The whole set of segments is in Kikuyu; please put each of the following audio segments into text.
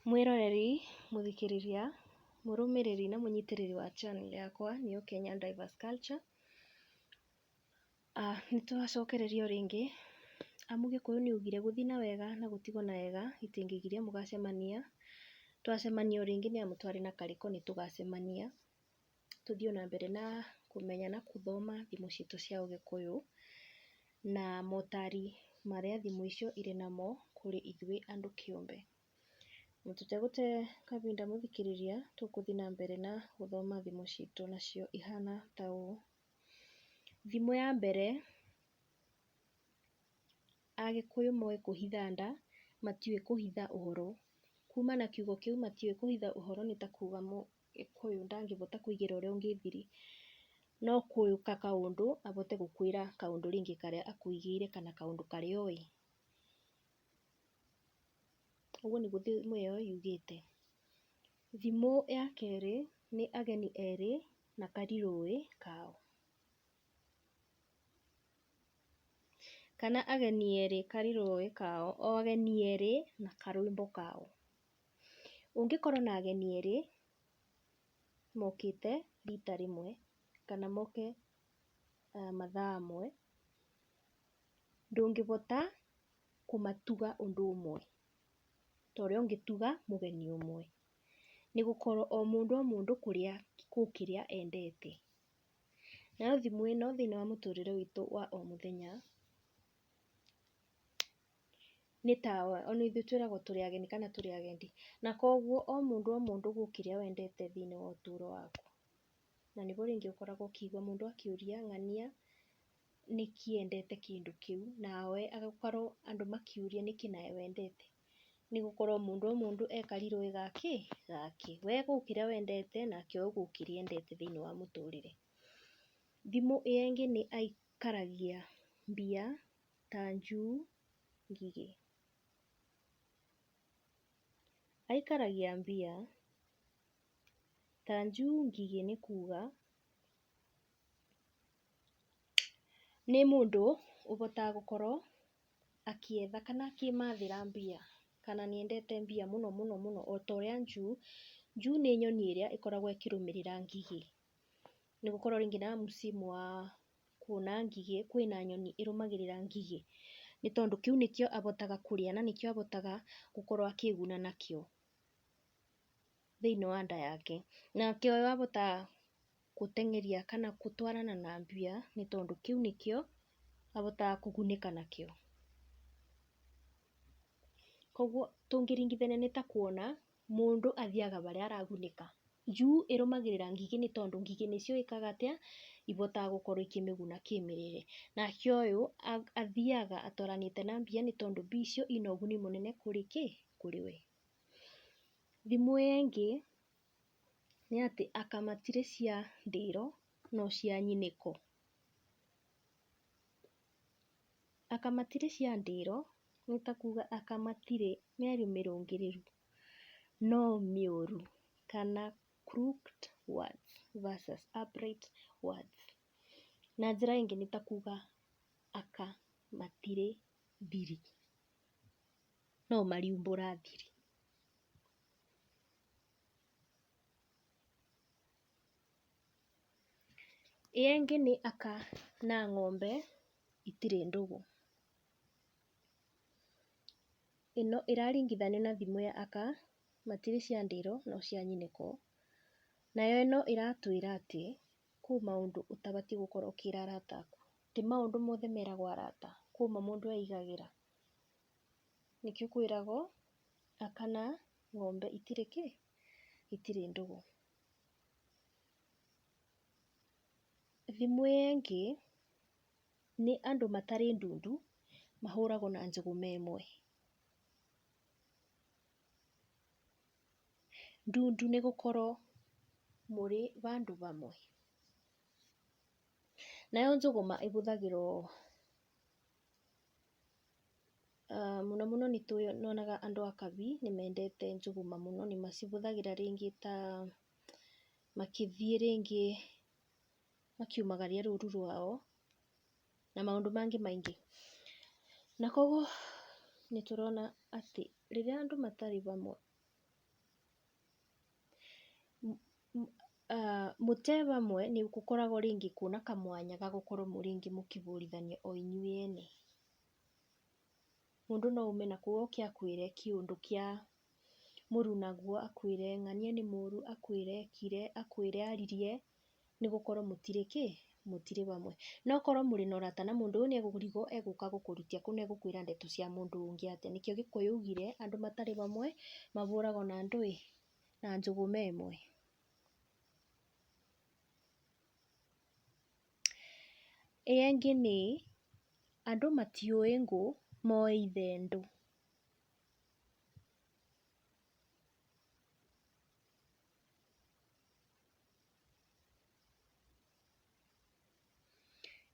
Mwĩroreri, mũthikĩrĩria, mũrũmĩrĩri na mũnyitĩrĩri wa channel yakwa nĩyo Kenya Drivers Culture. Nĩ twacokereria o rĩngĩ amu Gĩkũyũ nĩ augire gũthiĩ na wega na gũtigwo na wega itingĩgiria mũgacemania. Twacemania o rĩngĩ nĩ amu twarĩ na karĩko nĩ tũgacemania. tũthiĩ o na mbere na kũmenya na gũthoma thimũ citũ cia ũgĩkũyũ, na motari marĩa thimũ icio irĩ namo kũrĩ ithuĩ andũ kĩũmbe. Na tũtegũte kahinda mũthikĩrĩria, tũgũthiĩ na mbere na gũthoma thimũ citũ nacio ihana ta ũũ, Thimũ ya mbere, Agĩkũyũ moĩ kũhitha nda, matiũĩ kũhitha ũhoro. Kuma na kiugo kĩu matiũĩ kũhitha ũhoro nĩ ta kuga Gĩkũyũ ndangĩbota kũigĩra ũrĩa ũngĩ thiri, no kũĩka kaũndũ abote gũkwĩra kaũndũ rĩngĩ karĩa akũigĩire kana kaũndũ karĩa oĩ. Ũguo nĩguo thimũ ĩyo yugĩte. Thimũ ya kerĩ nĩ ageni erĩ na karirũĩ kao. Kana ageni erĩ karirũĩ kao, o ageni erĩ na karwĩmbo kao. Ũngĩkorwo na ageni erĩ mokĩte rita rĩmwe kana moke mathaa mwe, ndũngĩhota kũmatuga ũndũ ũmwe ta ũrĩa ũngĩtuga mũgeni ũmwe, nĩ gũkorwo o mũndũ o mũndũ kũrĩa kũu kĩrĩa endete. Nayo thimũ ĩno thĩiniĩ wa mũtũrĩre witũ wa o mũthenya. nĩ ta ona ithuĩ twĩragwo tũrĩ ageni kana tũrĩ agendi. Na koguo o mũndũ o mũndũ gũkũ kĩrĩa wendete thĩinĩ wa ũtũũro waku. Na nĩguo rĩngĩ ũkoraga ũkĩigua mũndũ akĩũria ng'ania nĩkĩ endete kĩndũ kĩu, nawe agakorwo andũ makĩũria nĩkĩ nawe wendete. Nĩ gũkorwo o mũndũ o mũndũ e karirũĩ ga kĩ? Gake. We gũkũ kĩrĩa wendete nake o gũkũ kĩrĩa endete thĩinĩ wa mũtũũrĩre. Thimũ ĩyo ĩngĩ nĩ aikaragia mbia. ta njui, ngigĩ. Aikaragia mbia, ta njui, ngigĩ nĩ kuga nĩ mũndũ ũhotaga gũkorwo akĩetha kana akĩmathĩra mbia kana nĩ endete mbia mũno mũno mũno o ta ũrĩa njui, njui nĩ nyoni ĩrĩa ĩkoragwo ĩkĩrũmĩrĩra ngigĩ nĩ gũkorwo rĩngĩ na msimu wa kuona ngigĩ, kwĩna nyoni ĩrũmagĩrĩra ngigĩ, nĩ tondũ kĩu nĩkĩo ahotaga kũrĩa na nĩkĩo ahotaga gũkorwo akĩĩguna nakĩo thĩinĩ wa nda yake. Nake ũyũ ahotaga gũteng'eria kana gũtwarana na mbĩya nĩ tondũ kĩu nĩkĩo ahotaga kũgunĩka nakĩo. Koguo tũngĩringithania nĩ ta kuona mũndũ athiaga harĩa aragunĩka. Njui ĩrũmagĩrĩra ngigĩ nĩ tondũ ngigĩ nĩ ciũĩ ĩkaga atĩa, ihotaga gũkorwo ikĩmĩguna kĩmĩrĩre. Nake ũyũ athiaga atwaranĩte na mbia nĩ tondũ mbia icio ina ũguni mũnene kũrĩ kĩ? Kũrĩ we. Thimo ĩyo ĩngĩ nĩ atĩ aka matirĩ cia ndĩro no cia nyinĩko. Aka matirĩ ciandĩro nĩ ta kuga aka matirĩ mĩario mĩrũngĩrĩru no mĩũru kana crooked words versus upright words. Na njĩra ĩngĩ nĩ ta kuga aka matirĩ thiri no mariumbũra thiri. Ĩ engĩ nĩ aka na ng'ombe itirĩ ndũgũ. Ĩno ĩraringithanio na thimũ ya aka, matirĩ cia ndĩro no cia nyinĩko. Nayo ĩno ĩratwĩra atĩ kwĩ maũndũ ũtabatiĩ gũkorwo ũkĩra arata aku. Ti maũndũ mothe meragwo arata, kwĩ mo mũndũ eigagĩra. Nĩkĩo kwĩragwo aka na ng'ombe itirĩ kĩ? Itirĩ ndũgũ. Thimũ yengĩ nĩ andũ matarĩ ndundu mahũragwo na njũgũ me ĩmwe. Ndundu nĩ gũkorwo mũrĩ bandũ bamwe. Nayo njũgũma ĩbũthagĩrwo Mũno mũno nĩ nyonaga andũ a Kabi nĩ mendete njũgũma mũno, nĩ macihũthagĩra rĩngĩ ta makĩthiĩ rĩngĩ makiumagaria rũru rwao na maũndũ mangĩ maingĩ. Na koguo nĩ tũrona atĩ rĩrĩa andũ matarĩ hamwe... Mũte wamwe nĩ gũkoragwo rĩngĩ kwĩna kamwanya ga gũkorwo rĩngĩ mũkĩbũrithania o inyuĩ ene. Mũndũ no aume nakũu oke akwĩre kĩũndũ kĩa mũrunaguo, akwĩre ng'ania nĩ mũru, akwĩre ekire, akwĩre aririe. nĩ gũkorwo mũtirĩ kĩ? Mũtirĩ hamwe. No korwo mũrĩ na ũrata na mũndũ, ũyũ nĩ ekũrigwo egũka gũkũrutia kũu na egũkwĩra ndeto cia mũndũ ũngĩ atĩa. Nĩkĩo Gĩkũyũ augire, andũ matarĩ hamwe, mahũragwo na ndũĩ? Na njũgũ me ĩmwe. Ĩyo ĩngĩ nĩ, andũ matiũĩ ngũ, moĩ ithendũ.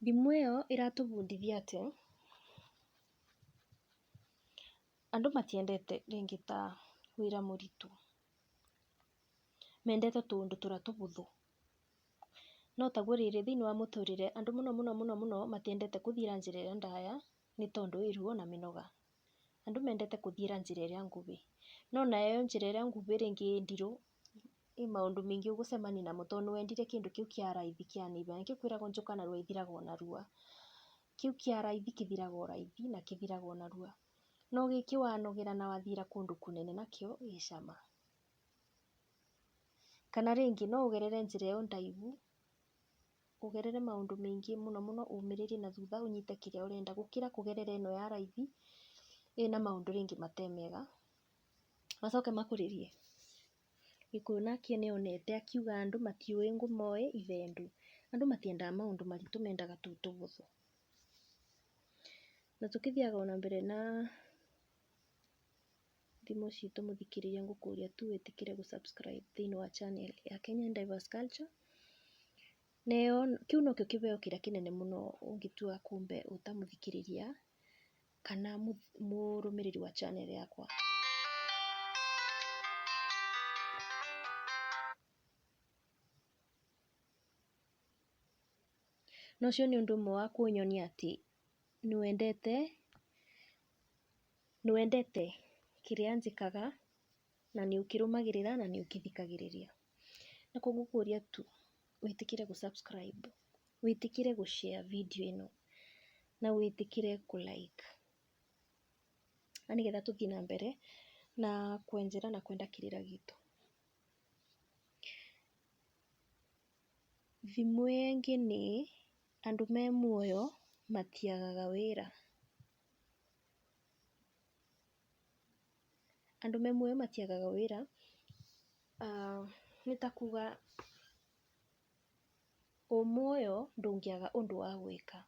Ndimũ ĩyo ĩratũbundithia atĩ, andũ matiendete rĩngĩ ta wĩra mũritũ, mendete tũũndũ tũrĩa tũhũthũ. No taguo rĩrĩ thĩinĩ wa mũtũrĩre andũ mũno mũno mũno mũno matiendete gũthiĩra njĩra ĩrĩa ndaya nĩ tondũ ĩ ruo na mĩnoga. Andũ mendete gũthiĩra njĩra ĩrĩa nguhĩ. No nayo njĩra ĩrĩa nguhĩ rĩngĩ ĩ ndirũ He maũndũ maingĩ ũgũcemania namo tondũ nĩ wendire kĩndũ kĩu kĩa raithi kĩa neiba. Nĩ kĩo kwĩragwo njoka narua ithiraga o narua. Kĩu kĩa raithi kĩthiraga o raithi na kĩthiraga o narua. No gĩkĩ wanogera na wathira kũndũ kũnene nakĩo gĩ cama. Kana rĩngĩ no ũgerere njĩra ĩyo ndaihu, ũgerere maũndũ maingĩ mũno mũno ũmĩrĩrie na thutha ũnyite kĩrĩa ũrenda gũkĩra kũgerera ĩno ya raithi ĩna maũndũ rĩngĩ matarĩ mega. macoke makũrĩrie gĩkũyũ nake nĩ onete akiuga andũ matiũĩ ngũmoe ithendũ, andũ matiendaga maũndũ maritũ mendaga tũu tũhũthũ. Na tũkĩthiaga ona mbere na thimũ citũ mũthikĩrĩria ngũkũria tu wĩtĩkĩre gũ subscribe thĩinĩ wa channel ya Kenyan Diverse Culture. Nayo kĩu nokĩo kĩheo kĩrĩa kĩnene mũno ũngĩtua kũmbe ũta mũthikĩrĩria kana mũrũmĩrĩri wa channel yakwa. Na ũcio nĩ ũndũ ũmwe wa kũnyonia atĩ nĩ wendete, nĩ wendete kĩrĩa njĩkaga. na nĩ ũkĩrũmagĩrĩra na nĩ ũkĩthikagĩrĩria. Na kũoguo ngũkũria tu wĩtĩkĩre gũ subscribe, wĩtĩkĩre gũ share video ĩno na wĩtĩkĩre kũ like na nĩ getha tũthiĩ na mbere na kwenjera na kwenda kĩrĩra gitũ. Thimo ĩyo ĩngĩ nĩ, andũ me muoyo matiagaga wĩra. Andũ amwe matiagaga wĩra, nĩ ta kuga wĩ muoyo ndũngĩaga ũndũ wa gwĩka.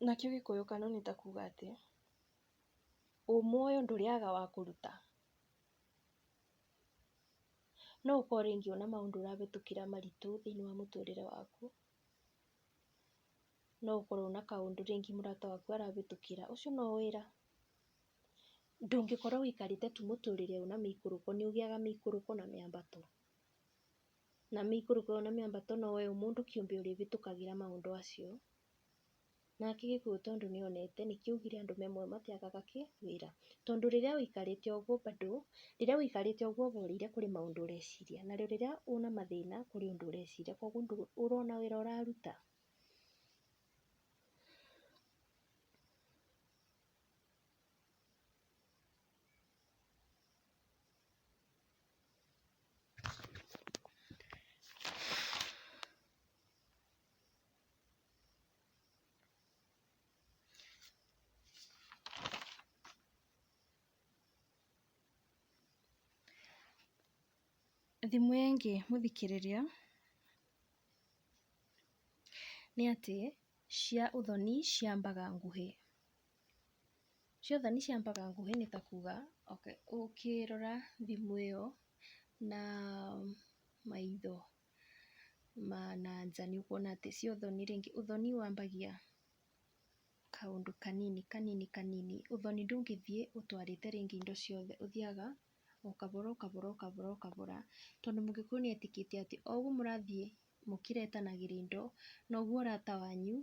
Nakĩo gĩkũyũ kano nĩ ta kuga atĩ, wĩ muoyo ndũrĩaga wa kũruta. No ũkorwo rĩngĩ wĩna maũndũ ũrahĩtũkĩra maritũ thĩinĩ wa mũtũrĩre waku. no ũkorwo na kaũndũ rĩngĩ mũrata waku arahĩtũkĩra, ũcio no wĩra, ndũngĩkorwo wĩikarĩte tu mũtũrĩre ũyũ na mĩikũrũko, nĩ ũgĩaga mĩikũrũko na mĩambato, na mĩikũrũko ĩyo na mĩambato no we mũndũ kĩũmbe ũrĩhĩtũkagĩra maũndũ macio, nake gĩkũyũ tondũ nĩ onete nĩkĩo augire andũ amwe matiagaga kĩ? wĩra, tondũ rĩrĩa wĩikarĩte o ũguo bado, rĩrĩa wĩikarĩte o ũguo ũhoreire kũrĩ maũndũ ũreciria, na rĩrĩa wĩna mathĩna kũrĩ ũndũ ũreciria, koguo ũrona wĩra ũraruta? Thimũ ĩngĩ mũthikĩrĩria. nĩ atĩ cia ũthoni ciambaga nguhĩ, cia ũthoni ciambaga nguhĩ nĩ ta kuga okay ũkĩrora thimũ ĩyo na maitho ma na nja nĩ ũkuona atĩ cia ũthoni rĩngĩ, ũthoni wambagia kaũndũ kanini kanini kanini, ũthoni ndũngĩthiĩ ũtwarĩte rĩngĩ indo ciothe, ũthiaga o kabora o kabora o kabora o kabora, tondũ mũgĩkũyũ nĩ etĩkĩtie atĩ o ũguo mũrathiĩ mũkĩretanagĩria indo, noguo ũrata wanyu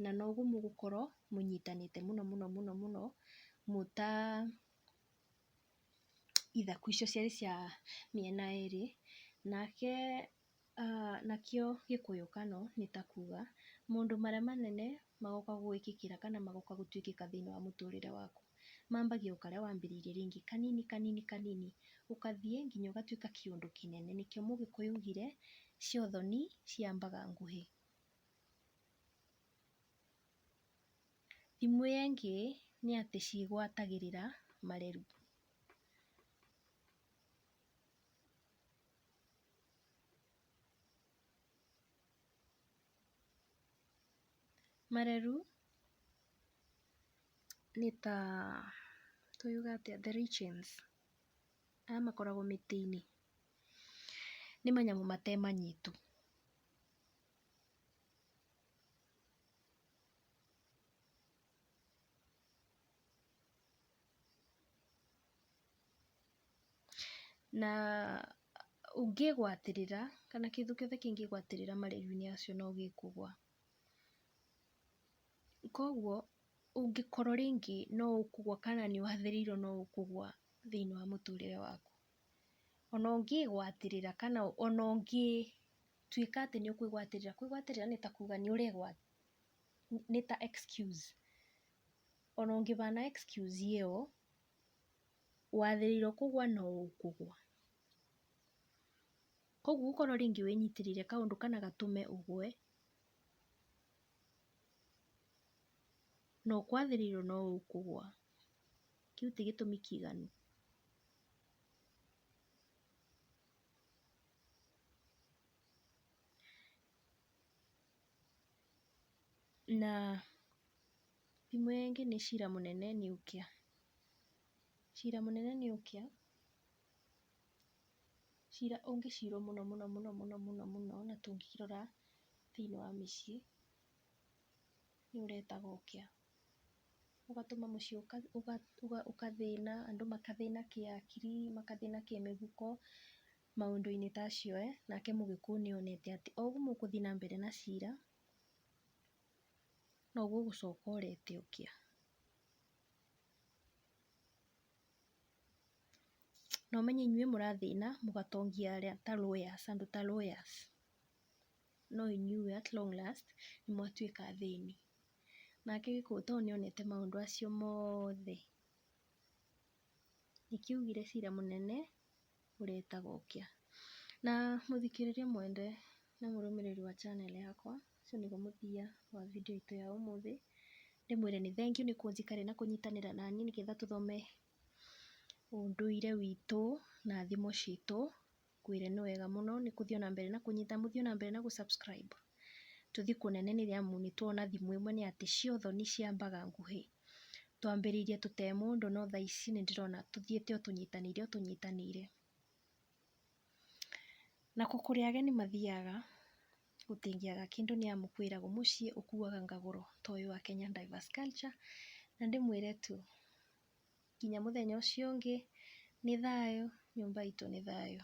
na noguo mũgũkorwo mũnyitanĩte mũno mũno mũno mũno mwĩ ta ithaku icio ciarĩ cia mĩena ĩrĩ. Nake... Nakĩo gĩkũyũ kano nĩ ta kuga maũndũ marĩa manene magoka gwĩkĩkĩra kana magoka gũtuĩkĩka thĩiniĩ wa mũtũrĩre waku. Mambagia o karĩa wambĩrĩirie rĩngĩ kanini kanini kanini ũgathiĩ nginya ũgatuĩka kĩũndũ kĩnene. Nĩkĩo mũgĩkũyũ augire cia ũthoni ciambaga nguhĩ. Thimo ĩyo ĩngĩ nĩ atĩ cigwatagĩrĩra mareri. Marerũ nĩ ta tũyũge atĩa the lichens arĩa makoragwo mĩtĩ-inĩ, nĩ manyamũ mate manyitũ. Na ũngĩgwatĩrĩra kana kĩndũ kĩothe kĩngĩgwatĩrĩra marĩrĩ-inĩ macio no gĩkũgũa. Koguo ũngĩkorwo rĩngĩ no ũkũgũa kana nĩ ũrathĩrĩirwo no ũkũgũa thĩinĩ wa mũtũrĩre waku. Ona ũngĩgwatĩrĩra kana ona ũngĩtuĩka atĩ nĩ ũkwĩgwatĩrĩra, kwĩgwatĩrĩra nĩ ta kuga nĩ ũregwatĩrĩra nĩ ta excuse ona ũngĩbana excuse ĩyo. wathĩrĩirwo kũgwa no ũkũgwa. Koguo ũkorwo rĩngĩ wĩnyitĩrĩire kaũndũ kana gatũme ũgwe, no kwathĩrĩirwo no ũkũgwa. Kĩu ti gĩtũmi kĩiganu. Na. Thimũ ĩyo ĩngĩ nĩ cira mũnene nuclear. Cira mũnene nuclear, cira ũngĩcirwo mũno mũno mũno mũno mũno mũno na tũngĩkĩrora thĩinĩ wa mĩciĩ, nĩ ũretaga ũkĩa. Ũgatũma mũciĩ ũgathĩna, andũ magathĩna kĩhakiri, magathĩna kĩmĩhuko, maũndũ-inĩ ta macio, nake mũgĩkũyũ nĩ onete atĩ o ũguo mũgũthiĩ na mbere na cira, noguo ũgũcoka ũrete ũkĩa. Na ũmenye inyuĩ mũrathĩna mũgatongia arĩa ta lawyers andũ ta lawyers no inyuĩ at long last nĩ mwatuĩka athĩni. Nake Gĩkũyũ tondũ nĩ onete maũndũ acio mothe, nĩkĩo augire cira mũnene. ũrĩa ĩtagwo Ũkĩa. Na mũthikĩrĩria mwende na mũrũmĩrĩri wa channel yakwa, ũcio nĩguo mũthia wa video itũ ya ũmũthĩ. Ndĩmwĩre nĩ thengiũ nĩ kũnjikare na kũnyitanĩra naniĩ nĩgetha tũthome ũndũire witũ na thimo citũ. Ngwĩre nĩ wega mũno nĩ kũthiĩ o na mbere na kũnyita, mũthiĩ o na mbere na gũ subscribe. Tũthiĩ kũnene nĩ amu nĩ tuona thimo ĩmwe nĩ atĩ, cia ũthoni ciambaga nguhĩ. Twambĩrĩirie tũtarĩ mũndũ no thaa ici nĩ ndĩrona tũthiĩte o tũnyitanĩire o tũnyitanĩire. Nako kũrĩa ageni mathiaga gũtingĩaga kĩndũ nĩ amu kwĩragwo mũciĩ ũkuaga ngagũro ta ũyũ wa Kenya Diverse Culture. Na ndĩmwĩre tu nginya mũthenya ũcio ũngĩ nĩ thayũ nyũmba itũ nĩ thayũ.